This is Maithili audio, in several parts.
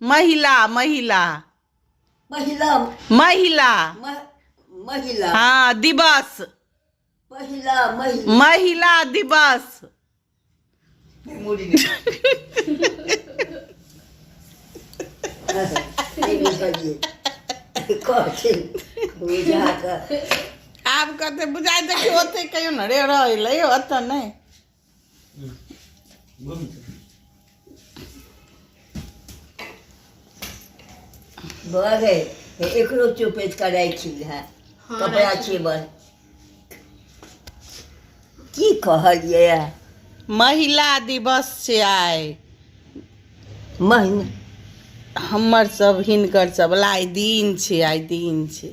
महिला महिला महिला महिला मह- महिला हाँ दिवस महिला महिला महिला दिवस नहि बुझलियै कहथिन बुझा कऽ आब कते बुझाइ देखियो ओते कहियो ने रे रहलै ओतऽ नहि बड़ है एकरो चुपेच करै छी है हाँ, कपड़ा राखी। छी बड़ की कहलियै है? महिला दिवस छै आइ महीना हमर सब हिनकर सब ला आइ दिन छै आइ दिन छै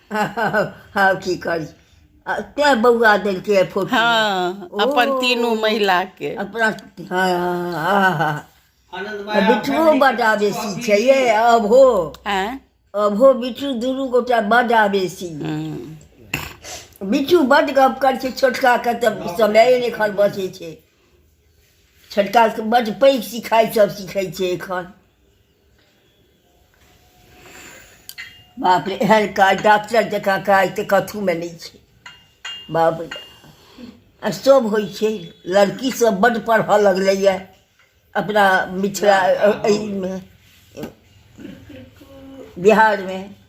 हाँ की करी आ, तैं बौआ देलकै ये फोटो हाँ अपन तीनू महिला के अपना हाँ हाँ हाँ आ बिठुओ बड आवेशी छै ये अभो आँय? अभो बिठू दुनू गोटा बड आवेशी हम्म। बिठू बड गप करै छै छोटका के तऽ समय नहि एखन बचै छै छोटका के बड पैघ सिखाइ सब सिखै छै एखन बाप रे एहन काज डॉक्टर जकाँ काज तऽ कथूमे नहि छै बाप रे आ सभ होइ छै लड़की सब बड्ड पढ़ऽ लगलैए अपना मिथिला अ- अइमे बिहारमे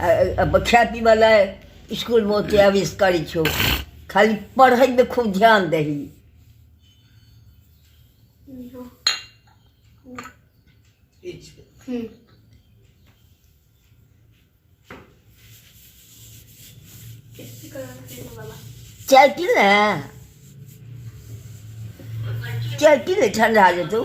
खाय पीबऽ लए इसकुलमे ओते अवेश करै छौ खाली पढ़ैमे खूब ध्यान दही चाय पी ले चाय पी ले ठंडा जेतौ